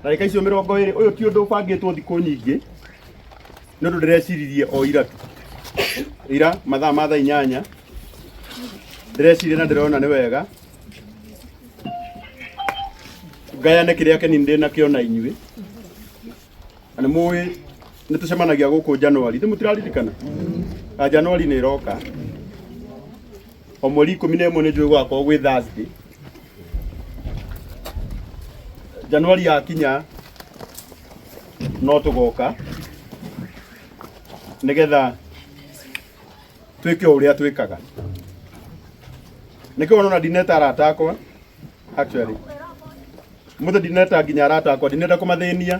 ndagĩka icio mĩrongo ĩrĩ ũyũ ti ũndũ ũbangĩtwo thikũ nyingĩ nĩ ũndũ ndĩreciririe o ira tu ira mathaa ma thaa inyanya ndĩreciria na ndĩrona nĩ wega ngayane kĩrĩa kĩnini ndĩ nakĩo na inyuĩ na nĩ mũĩ nĩ tũcemanagia gũkũ Januari nĩ mũtiraririkana na Januari nĩ ĩroka o mweri ikũmi na ĩmwe nĩ njũĩ gwakorwo gwĩ Thursday Januari yakinya no tũgoka nĩgetha twĩke ũrĩa twĩkaga nĩkĩo wona ndineta arata akwa actually mũthĩ ndineta nginya arata akwa ndineta kũmathĩnia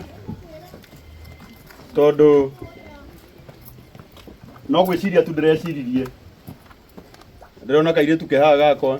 tondũ no gwĩciria tu ndĩreciririe ndĩrona kairĩtu kehaga gakwa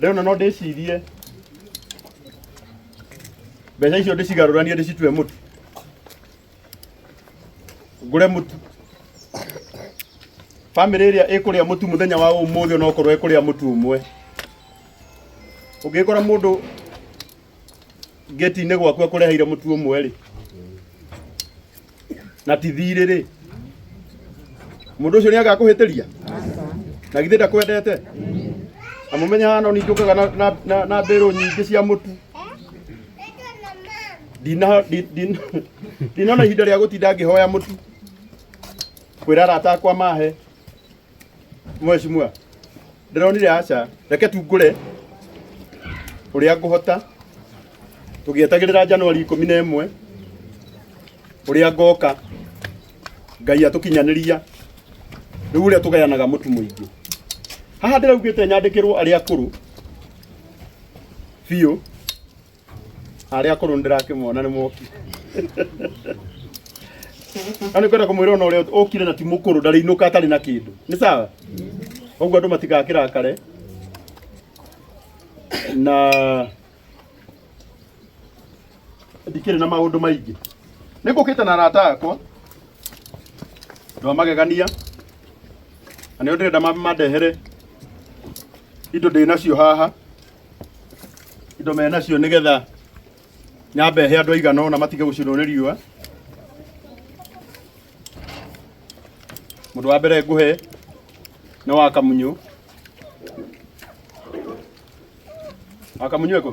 rĩu na no ndĩcirie mbeca icio ndĩcigarũranie ndĩcitue mũtu ngũre mũtu bamĩrĩ ĩrĩa ĩkũrĩa mũtu mũthenya wa ũmũthĩ ona okorwo ĩkũrĩa mũtu ũmwe ũngĩkora mũndũ ngeti-inĩ gwaku akũreheire mũtu ũmwe rĩ na ti thirĩ rĩ mũndũ ũcio nĩ agakũhĩtĩria na githĩ ndakwendete amũmenya hana nĩ njũkaga na- na- na- na mbĩrũ nyingĩ cia mũtu Ndina- ndi- ndi- ndinona ihinda rĩa gũtinda ngĩhoya mũtu kwĩra arata akwa mahe Mheshimiwa, ndĩronire aca, reke tu ngũre ũrĩa ngũhota tũgĩetagĩrĩra Januari ikũmi na ĩmwe ũrĩa ngoka Ngai atũkinyanĩria rĩu ũrĩa tũgayanaga mũtu mũingĩ haha ndĩraugĩte nyandĩkĩrwo arĩa akũrũ biũ arĩa akũrũ ndĩrakĩmona nĩ moki na nĩ kwenda kũmwĩra ona ũrĩa ũkire na ti mũkũrũ ndarĩinũka atarĩ na kĩndũ nĩ sawa ũguo andũ matigakĩrakare na ndikĩrĩ na maũndũ maingĩ nĩ ngũkĩte na arata akwa andũ a magegania na nĩo ndĩrenda ma- mandehere indo ndĩ nacio haha indo me nacio nĩ getha nyambe he andũ aigana ona matige gũcinwo nĩ riũa mũndũ wa mbere ngũhe nĩ wa kamunyũ wa kamunyũ eko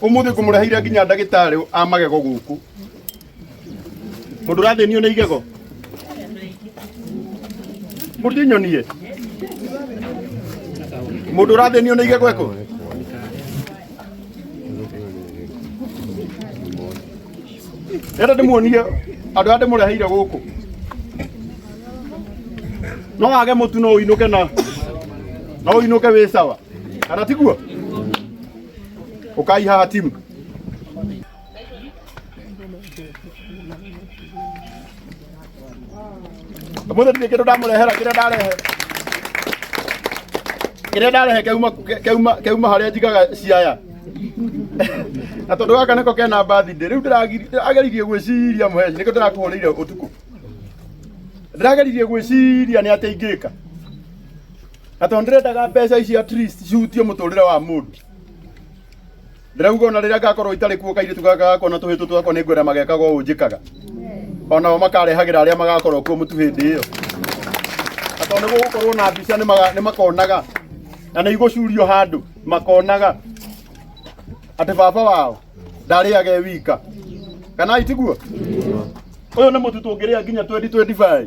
umuthi ngumureheire nginya ndagitari a magego guku mundu rathinio ni igego mutinyonie mundu rathinio ni igego eko Enda ndĩmuonie andũ arĩa ndĩmũreheire gũkũ no wage mũtu no ũinũke na no ũinũke wĩ sawa kana tiguo ũkai haha timu Mũthĩ ndirĩ kĩndũ ndamũrehera kĩrĩa ndarehe kĩrĩa ndarehe keuma keuma keuma harĩa njigaga ciaya na tondũ gaka nĩko kena mbathi ndĩ rĩu ndĩrageririe gwĩciria mũheci nĩkĩo ndĩrakũhũrĩire ũtukũ ndĩrageririe gwĩciria nĩ atĩa ingĩka na tondũ ndĩrendaga mbeca ici at least cihutie mũtũrĩre wa mũndũ ndĩrauga ona rĩrĩa ngakorwo itarĩ kuo kairĩtu gaka gakwa na tũhĩtũ twakwa nĩ ngwenda magekaga ũũ njĩkaga onao makarehagĩra arĩa magakorwo kuo mũtu hĩndĩ ĩyo na tondũ nĩ gũgũkorwo na mbica nĩ maga- nĩ makonaga na nĩ igũcurio handũ makonaga atĩ baba wao ndarĩage e wika kana itiguo ũyũ nĩ mũtu tũngĩrĩa nginya twendi twendi baĩ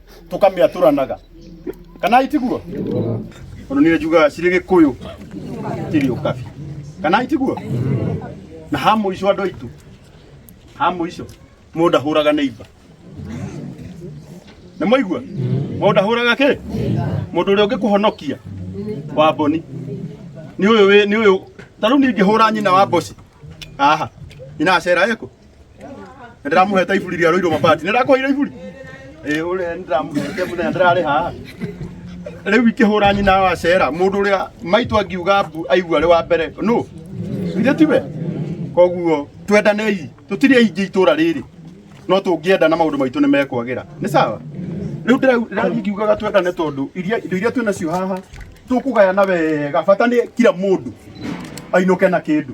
tũkamĩatũranaga kana itiguo tondũ nĩ njugaga cirĩ gĩkũyũ kĩrĩ ũkabi kana itiguo na ha mũico andũ aitũ ha mũico mũndũ ndahũraga neiba nĩ mwaigua mũndũ ndahũraga kĩ mũndũ ũrĩa ũngĩkũhonokia wa mboni nĩ ũyũ wĩ- nĩ ũyũ ta rĩu ningĩhũra nyina wa mboci aha nyina acera ĩkũ ndĩramũhete iburi rĩa rũirũ mabati nĩndakũheire iburi ĩ ũrĩa nĩndĩramũhete mũthenya ndĩrarĩ haha rĩu ikĩhũra nyina wa cera mũndũ ũrĩa maitũ angiuga mbu aigua arĩ wa mbere no githĩ tiwe koguo twendanei tũtirĩ aingĩ itũra rĩrĩ no tũngĩenda na maũndũ maitũ nĩ mekwagĩra nĩ sawa rĩu ndĩra- ndĩrathiĩ ngiugaga twendane tondũ iria indo iria twĩ nacio haha tũkũgayana wega bata nĩ kira mũndũ ainũke na kĩndũ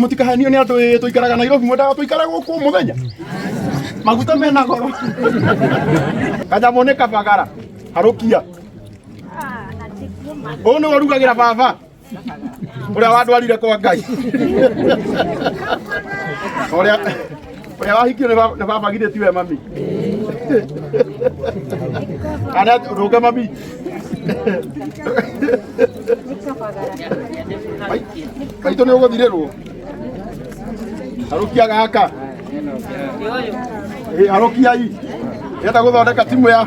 mũtikahenio nĩ andũ ĩ tũikaraga nairobi mwendaga tũikare gũkũ mũthenya maguta mena goro kanyamũ nĩ kabagara harũkia ũyũ nĩ warugagĩra baba ũrĩa wandwarire kwa ngai ũrĩa Ũrĩa wahikio nĩ baba- nĩ baba githĩ tiwe mami? Kana rũnga mami? Mai- Maitũ nĩ ũgũthirĩrwo. Harũkia gaka. Ĩ, Harũkiai. Yenda gũthondeka timu ya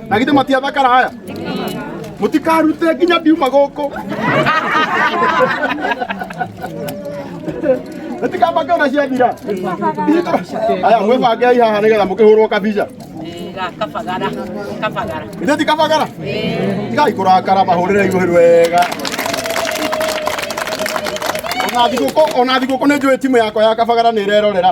na githĩ matiathakara haya mũtikarute nginya ndiuma gũkũ mũtikambange ona ciathira aya mwĩbangei haha nĩgetha mũkĩhũrwo kabica kabagara kabagara ithe ti kabagara tigai kũrakara mahũrĩre ihũrĩ wega ona thigũkũ ona thigũkũ nĩ njũĩ timu yakwa ya kabagara nĩ ĩrerorera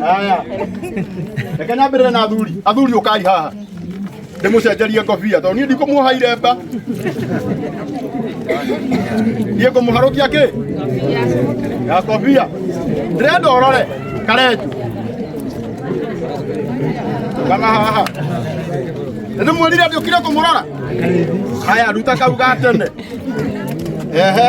Haya. Reke nyambĩrĩre na athuri. Athuri ũkai haha. Ndĩmũcenjerie ngobia tondũ niĩ ndikũmuoha iremba. Niĩ ngũmũharũkia kĩ? Ya ngobia. Ndĩrenda ũrore karenju. Kana haha. Nĩ mwĩrire atĩ ũkire kũmũrora? Haya, ruta kau ga tene. Ehe.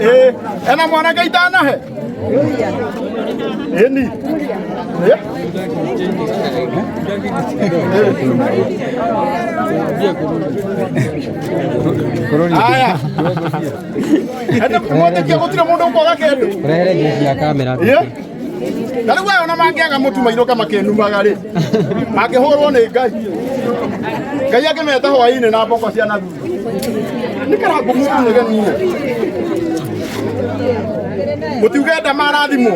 ĩĩ ena mwanake itanahe ĩni Ĩ? aya ende mwandĩkia gũtirĩ mũndũ ũkwaga kĩndũ Rehere jeshi ya kamera. Ĩ? na rĩu aya ona mangĩaga mũtu mainũka makĩnumaga rĩ mangĩhũrwo nĩ ngai ngai angĩmeta hwainĩ na mboko cia na thutha nĩ karangu mũtu nĩ genire mũtiuge nda marathimwo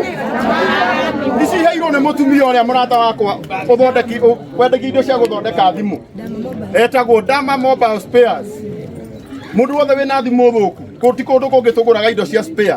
ici iheirwo nĩ mũtumia ũrĩa mũrata wakwa ũthondeki ũ- wendagia indo cia gũthondeka thimũ etagwo Dama Mobile Spares mũndũ wothe wĩna thimũ thũku kũ- ti kũndũ kũngĩ tũgũraga indo cia spare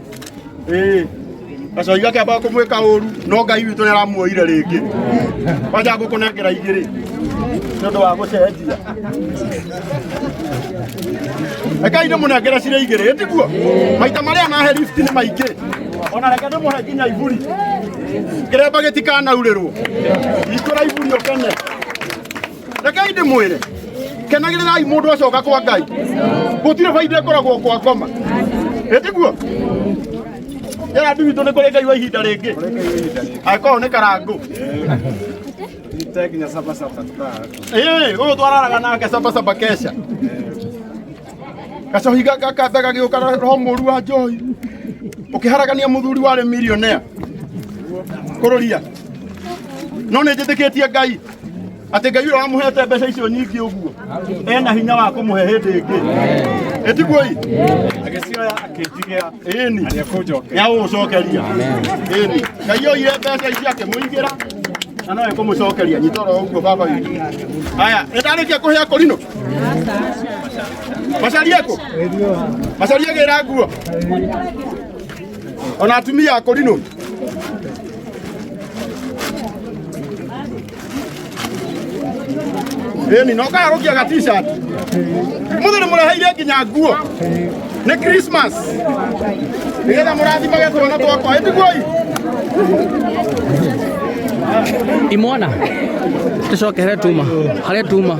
Ĩĩ. Gacoi gake amba kũmwĩka ũru no Ngai witũ nĩaramuoire rĩngĩ. Kwanja ngũkũnengera igĩrĩ nĩ ũndũ wa gũcenjia. Rekai ndĩmũnengere cirĩ igĩrĩ ĩ tiguo? Maita marĩa nahe lift nĩ maingĩ. Ona reke ndĩmũhe nginya iburi. Kĩremba gĩtikanaurĩrwo. Hingũra iburi ũkene. rekei ndä mwä re kenagä rä rai må ndå acoka kwa ngai gå tirä bainda ä koragwo kwa ngoma ä tiguo yara ndi witå nä kå rä ngai wa ihinda rä ngä angä korwo nä karangå Ĩĩ, ũyũ twararaga nake cabacaba kesha gacohi gaka kambe gagĩũka na roho mũru wa njohi ũkĩharagania mũthuri warĩ millionaire kũrũria no nĩ njĩtĩkĩtie ngai atä ngai å wamuhete mbeca icio nyingä å guo ena hinya wa kå må he hä ndä ä ngä ä tiguoi agĩcioya akĩnjigĩa ĩni nĩ agũgũcokeria ĩni ngai oire mbeca icio akĩmũigĩra na no ĩkũmũcokeria nyita oro ũguo baba witũ haya nĩ ndarĩkia kũhe akorino macarie kũ macarie gĩra nguo ona atumia akorino ĩni na ũkagarũkia ga t-shirt mũthĩ nĩ mũreheire nginya nguo nĩ christmas nĩgetha mũrathimage twana twakwa ĩtiguoi imwana tucokere tuma harä tuma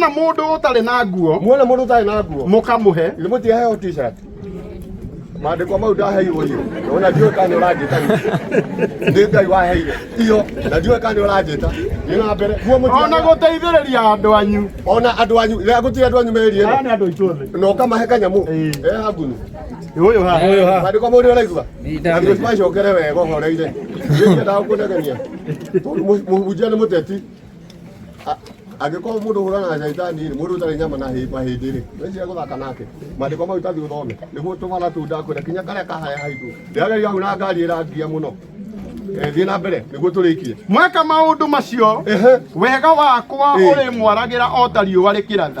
na mundu utari na nguo muona mundu utari na nguo mukamuhe ni muti heo t-shirt maandĩko mau ndaheirwo iyo ona ndiũĩ kana ũranjĩta nĩ ngai waheire iyo na ndiũĩ kana ũranjĩta nĩ na mbere ona gũteithĩrĩria andũ anyu ona andũ anyu rĩrĩa gũtirĩ andũ anyu merire na ũkamahe kanyamũ eha ngunu Uyu ha. Uyu ha. Bado kama uri unaigua. Ndio kwa shokere wewe kwa ngore ile. Ndio ndio kuna kania. Mujana muteti. Angĩkorwo mũndũ ũhũrana na caitani rĩ mũndũ ũtarĩ nyama na hĩba hĩndĩ rĩ wĩcire gũthaka nake maandĩko mau tathiĩ ũthome nĩguo tũmana tunda kwĩra kinya karĩa kahaya haitũ ndĩrageria hau na ngari ĩrangia mũno Eh, thiä na mbere nä guo tå rä ikie mweka maå ndå macio wega wakwa å rä mwaragira o ta riå arä kä ratha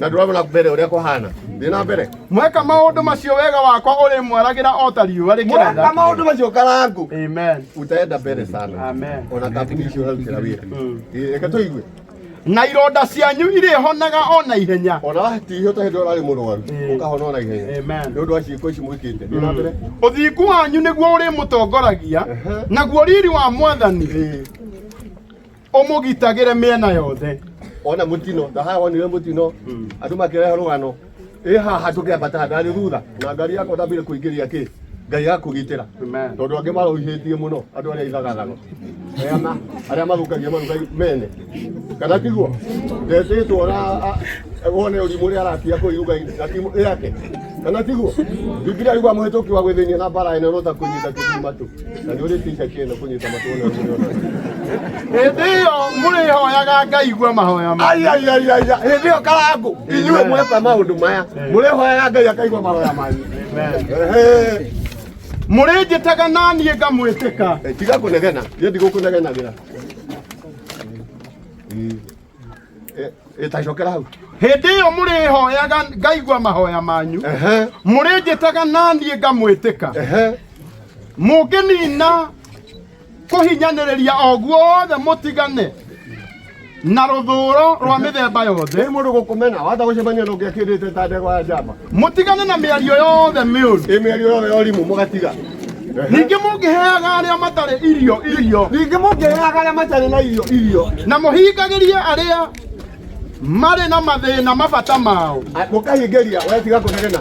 na ndurona na mbere uria kuhana ndi na mbere mweka maundu macio wega wakwa uri mwaragira o ta riua mweka rikiratha maundu macio karangu amen utaenda mbere sana Amen. ona kambuni icio urarutira wira Mm. reke tuigue na ironda cianyu irĩhonaga o na ihenya ona watihio ta hindi urari murwaru Eh. ukahona ona ihenya Amen. ni undu wa ciiko ici mwikite ndi na mbere ũthingu wanyu nĩguo ũrĩmũtongoragia Ehe. naguo riri wa mwathani Eh. ũmũgitagĩre mĩena yothe ona mutino ndaha wonire mutino andu makirehe rugano ĩ haha tũkĩambata ngari thutha na ngari yakwa ndambire kũingĩria kĩ ngai akũgitĩra Amen. tondũ angĩ marũihĩtie mũno andũ arĩa ithagathago Ema, arĩa mathũkagia maruga mene kana tiguo ndetĩtwo na a- a- wone ũrimũ ũrĩa aratia kũu iruga-inĩ na timu yake kana tiguo bibilia yuga mũhĩtũki wa gwĩthĩnia na mbara ene no ta kũnyita kĩthima tu hĩndĩ ĩyo mũrĩhoyaga ngaigua mahoya ma aiaiaiaia hĩndĩ ĩyo karangũ inyuĩ mweka maũndũ maya mũrĩhoyaga ngai akaigua mahoya manyu Ehe. mũrĩnjĩtaga na niĩ ngamwĩtĩka Eh, tiga kũnegena niĩ ndigũkũnegenagĩra ĩtacokera hau hĩndĩ ĩyo mũrĩhoyaga ngaigua mahoya manyu Ehe, mũrĩnjĩtaga na niĩ ngamwĩtĩka ehe. mũngĩnina kũhinyanĩrĩria o guothe mũtigane na rũthũũro rwa mĩthemba yothe Rĩu mũndũ gũkũmena wahota gũcemania na ũngĩakĩndĩte ta ndegwa ya njamba mũtigane na mĩario yothe mĩũru ĩmĩario yothe ya ũrimũ mũgatiga ningĩ mũngĩheaga arĩa matarĩ irio irio ningĩ mũngĩheaga arĩa matarĩ na irio irio na mũhingagĩrie arĩa marĩ na mathĩna mabata mao A- mũkahingĩria wetiga kũnegena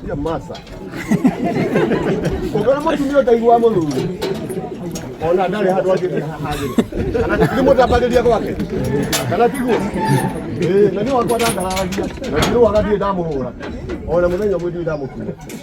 Cia masa ũngĩona mũtumia ũtaigua mũthuri ona ndarĩ handũ angĩthiĩ hahagĩrĩ kana nĩ mũtambagĩria gwake kana tiguo Ĩĩ, na nĩ wakwa ndangaragia na ndirũaga ndirĩ ndamũhũra ona mũthenya ũmwe ndirĩ ndamũkuua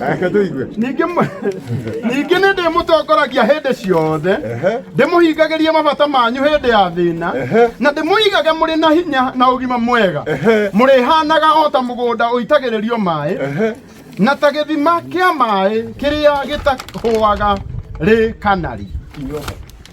Reke tũigue. ningĩ mwe- ningĩ nĩ ndĩmũtongoragia hĩndĩ ciothe Ehe. ndĩmũhingagĩrie mabata manyu hĩndĩ ya thĩna Ehe. na ndĩmũigage mũrĩ na hinya na ũgima mwega Ehe. mũrĩhanaga o ta mũgũnda ũitagĩrĩrio maĩ Ehe. na ta gĩthima kĩa maĩ kĩrĩa gĩtahũaga rĩ kanari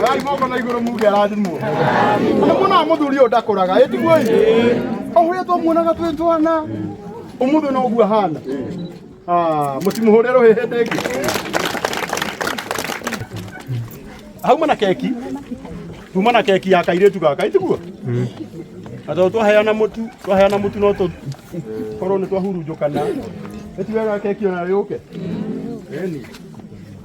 ngai moko na iguru muge arathimwo na mona muthuri uyu ndakuraga itiguo ohuria twamuonaga twĩ twana umuthi no guo ahana Ah, mũtimuhũre rũhĩ hĩndĩ ĩngĩ hauma na keki tuma na keki ya kairĩtu gaka itiguo na tondũ twaheana mũtu twaheana mũtu no tũ korwo nĩ twahurunjũkana ĩtigaga keki ona yũke ĩni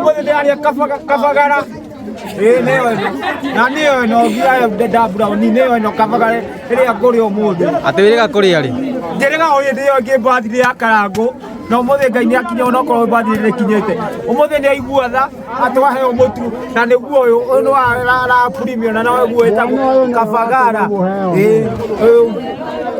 Ngoja tayari ya kafa kafa gara. Eh neo eno. Na neo eno gira dada brown ni neo eno kafa gara. Ile ya kori omudu. Atewirega kuri ari. Njerega oye ndio ngi birthday ya karango. Na umuthi ngai ni akinya ona korwo birthday ni kinyete. Umuthi ni aigua tha atwahe omutu na niguo uyu uyu ni wa ra- ra premium na nawe guo etagwo kafa gara. Eh uyu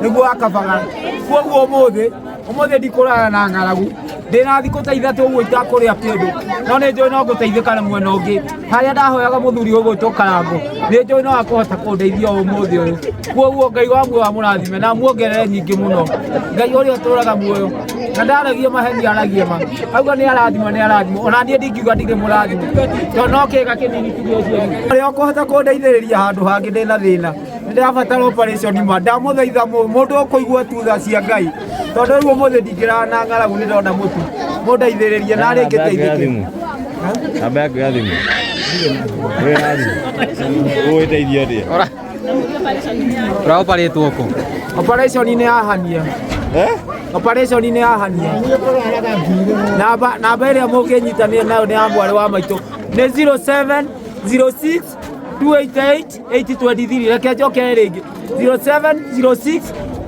niguo wa kafa gara. Kuoguo umuthi Ũmũthĩ ndikũrara na ng'aragu ndĩ na thikũ ta ithatũ ũguo itakũrĩa kĩndũ no nĩ njũĩ no ngũteithĩka na mwena ũngĩ harĩa ndahoyaga mũthuri ũgwĩtwo karango nĩ njũĩ no akũhota kũndeithia ũmũthĩ ũyũ kuoguo ngai wa muoyo amũrathime na muongerere nyingĩ mũno ngai ũrĩa ũtũraga muoyo na ndaragia maheni aragia ma auga nĩ arathima nĩ arathima ona niĩ ndingiuga ndirĩ mũrathima to no kĩga kĩnini tu gĩciari ũrĩa ũkũhota kũndeithĩrĩria handũ hangĩ ndĩ na thĩna ndirabatara operation ma ndamuthaitha mu- mundu ukuigua tu tha cia ngai tondu riu umuthi ndingirara na ng'aragu ni ndona mutu mundeithiririe na ringi teithiki namba yaku ya thimũ Ĩyo ya thimũ. ũgũgĩteithia atĩa ũraoparĩtwo kũ operation ni yahania Eh? operation ni yahania namba namba iria munginyitanire nayo ni ya mwari wa maitå ni 07 06 288 823 reke njoke rĩngĩ 0706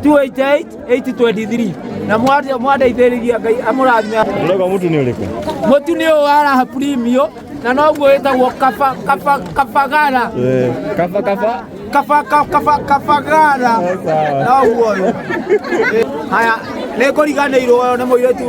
288 823 na mwate- mwandeithĩrĩria ngai amũrathime Unaga mtu ni uliku. mũtu nĩ ũyũ wa raha premio na noguo wĩtagwo kaba- kaba- kabagara Eh, kafa kafa. Kaba- ka- kaba- kabagara Sawa. noguo ũyũ haya nĩ kũriganĩirwo nĩ mũirĩtu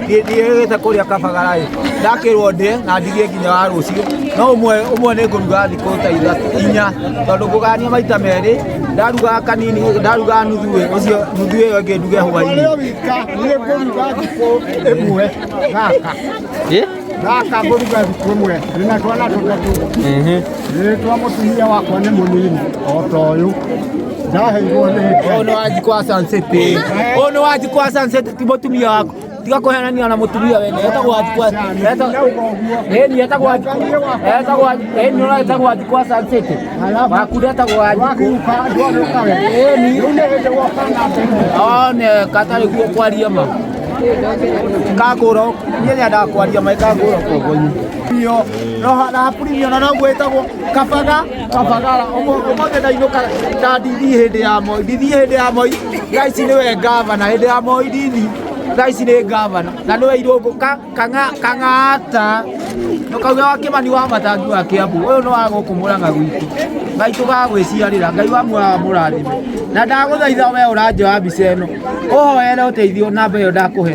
ndiĩgĩte kũrĩa kabagara ĩ ndakĩrwo ndĩe na ndirie nginya wa rũciũ no ũmwe ũmwe nĩ ngũruga thikũ ta ithatũ inya tondũ ngũgania maita merĩ ndaruga kanini ndaruga nuthu ĩ ũcio nuthu ĩyo ĩngĩ nduge hwainĩ wika niä ngå ruga thikå ä mwe gaka Eh? gaka ngå ruga thikå ä mwe nä na twana tå tatå nä twa må tumia wakwa nä må nini o ta å yå ndaheirwo nä ngai Ono waji kwa sunset. Ono waji kwa sunset. ti mutumia waku tiga kuhenania na mutumia wene etagwo athikwa ni etagwo etagwo ni ora etagwo athikwa sansete waku ndetagwo athikwa ni one katari guo kwaria ma kagura niä rä a ndakwaria maä kagura kogoinä no na hapurimio na no gwä tagwo kabaga kabagara umuthi ndainũka na ndini hĩndĩ ya moi ndini hĩndĩ ya moi thaa ici nĩwe ngavana hĩndĩ ya moi ndini thaa ici nĩ ngavana na nĩwe irũngũ ka- kang'a- kang'ata ndũkauge wa kĩmani wa matangi wa kĩambu ũyũ nĩ wa gũkũ mũrang'a gwitũ ngai tũgagwĩciarĩra ngai wa muoyo wa mũrathime na ndagũthaitha we ũranjoya mbica ĩno ũhoere ũteithio namba ĩyo ndakũhe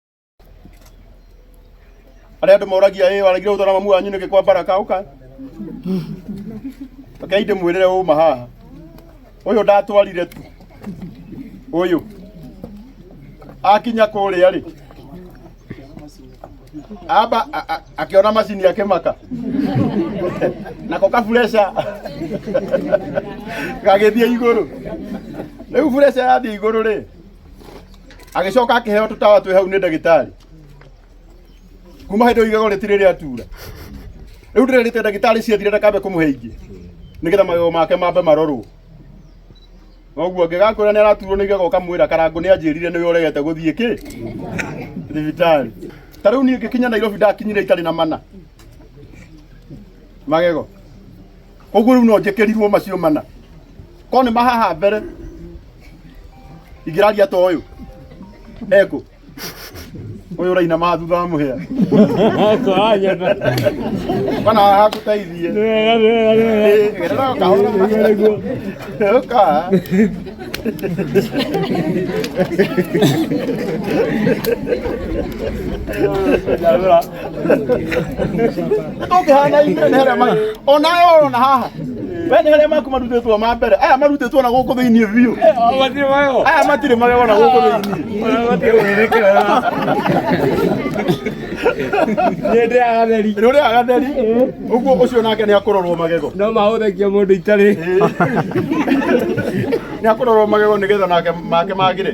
arĩa andũ moragia ĩ waragire gũtwara mamu wanyu nĩkĩ kwa baraka ũka rekei ndĩmwĩrĩre ũma haha ũyũ ndatwarire tu ũyũ akinya kũrĩa rĩ amba a- a- akĩona macini akĩmaka nako kabureca gagĩthiĩ igũrũ rĩu bureca yathiĩ igũrũ rĩ agĩcoka akĩheo tũtawa twĩ hau nĩ ndagĩtarĩ kuma hĩndĩ ĩyo igego rĩtirĩ rĩatura rĩu ndĩrerĩte ndagĩtarĩ ciathire ndakambe kũmũhe ingĩ nĩgetha magego make mambe marorwo noguo ngĩgakwĩra nĩ araturwo nĩ igego ũkamwĩra karangũ nĩ anjĩrire nĩwe ũregete gũthiĩ kĩ thibitarĩ ta rĩu niĩ ngĩkinya nairobi ndakinyire itarĩ na mana magego koguo rĩu no njĩkĩrirwo macio mana ko nĩ mahaha mbere ingĩraria ta ũyũ ekũ ũyũ ũraina ma thutha wa mũhĩa kana hakũteithie gerera o kahora ũka tũngĩhana inyuĩ nĩ harĩa marĩ o nawe ũrona haha we nĩ harĩa maku marutĩtwo ma mbere aya marutĩtwo na gũkũ thĩinĩ biũ aya matirĩ magego na gũkũ thĩinĩ rĩrĩa agatheri ũguo ũcio nake nĩ akũrorwo magego no mahũthagia mũndũ itarĩ nĩ akũrorwo magego nĩgetha nake make magĩre